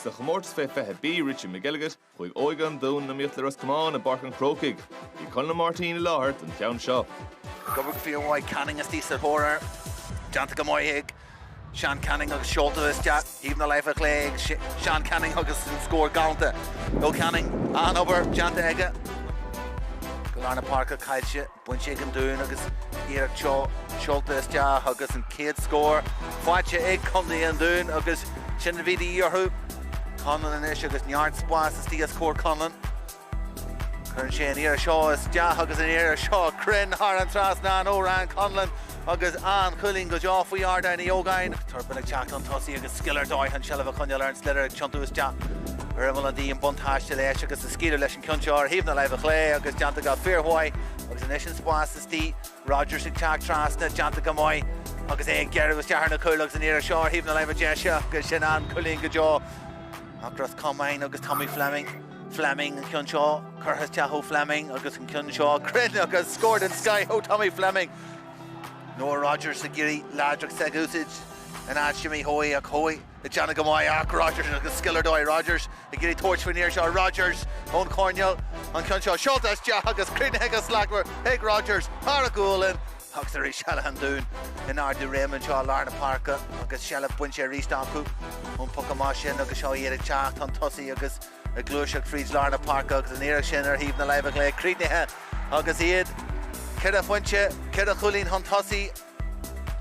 Sa chomórtas fé 20 B Richie McElligott, chuaigh óige an Dúin in iomaíocht le Ros Comáin i bPáirc an Chrócaigh. Bhí Conall Ó Máirtín i láthair don cheann seo. Obair fhíormhaith Canning istigh sa thóir air. Déanta go maith ag Seán Canning agus seolta isteach ar thaobh na láimhe chlé ag Seán Canning agus an scór galanta ó Canning. An-obair déanta aige. Go lár na páirce caillte. Bainte ag an Dún agus iarracht seolta isteach agus an chéad scór faighte ag contae an Dúin agus sin a bhí de dhíth orthu. Conlon anois agus neart spáis istigh os comhair Conlon. Cuireann sé an iarracht seo isteach agus an iarracht seo cruinn thar an trasnán ó Ryan Conlon agus an cúilín go deo faoi Ardán Uí Ógáin. Turpin ag teacht chun tosaigh agus scil ar dóigh an seilbh a choinneáil ar an sliotar ag tiontú isteach. Ar imeall an D an buntáiste leis agus scaoiltear leis Cionn seo ar thaobh na láimhe chlé agus déanta go fíormhaith agus anois an spás istigh, Rodgers ag teacht trasna, déanta go maith agus é ag gearradh isteach ar na cúil agus an iarracht seo ar thaobh na láimhe deise agus sin an cúilín go deo ag Ros Comáin agus Tommy Fleming, Fleming an ceann seo, curtha isteach ó Fleming agus an ceann seo cruinn agus scór den scoith ó Tommy Fleming. Noah Rodgers ag iarraidh láidreacht s'aige a úsáid in aghaidh Jimmy Hoey ach Hoey, Ag déanamh go maith ach Rodgers agus scil ar dóigh, Rodgers ag iarraidh tabhairt faoin fhear seo. Rodgers ón choirnéal. An ceann seo seolta isteach agus críochnaithe go slachtmhar ag Rodgers thar a ghualainn. Agus arís eile an Dún in ard a réime anseo i lár na páirce agus seilbh bainte arís acu ón bpoc amach sin agus seo iad ag teacht chun tosaigh agus ag gluaiseacht fríd lár na páirce agus an iarracht sin ar thaobh na láimhe chlé críochnaithe agus iad ceithre phointe, ceithre chúilín chun tosaigh.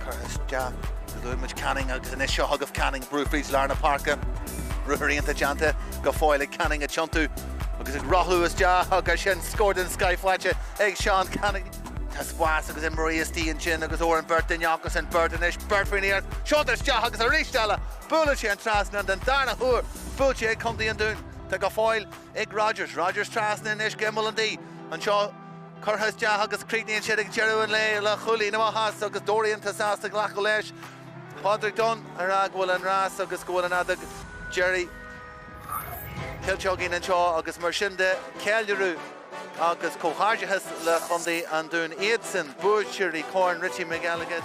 Curtha isteach go dtabharfaidh muid Canning agus anois seo chugaibh Canning, brú fríd lár na páirce, ruathar iontach déanta go fóill ag Canning ag tiontú agus ag rothlú isteach agus sin scór den scoith faighte ag Seán Canning. Tá spás agus imreoirí istigh ansin agus Odhran Birt duine acusan, Birt anois, Birt fríd an aer, seoltar isteach agus arís eile buaileann sé an trasnán don darna huair, buailte ag contae an Dúin, tá go fóill ag Rogers, Rogers trasna anois go imeall an D, anseo. curtha isteach agus críochnaíonn siad ag deireadh an lae le cúilín amach as agus Dorrian sásta glacadh leis. Pádraig Dunne ag rá go bhfuil an rás agus go bhfuil an fheadóg deiridh cloiste againn anseo agus mar sin de ceiliúradh agus comhghairdeachas le chontae an Dúin iadsan buaiteoirí Corn Richie McElligott.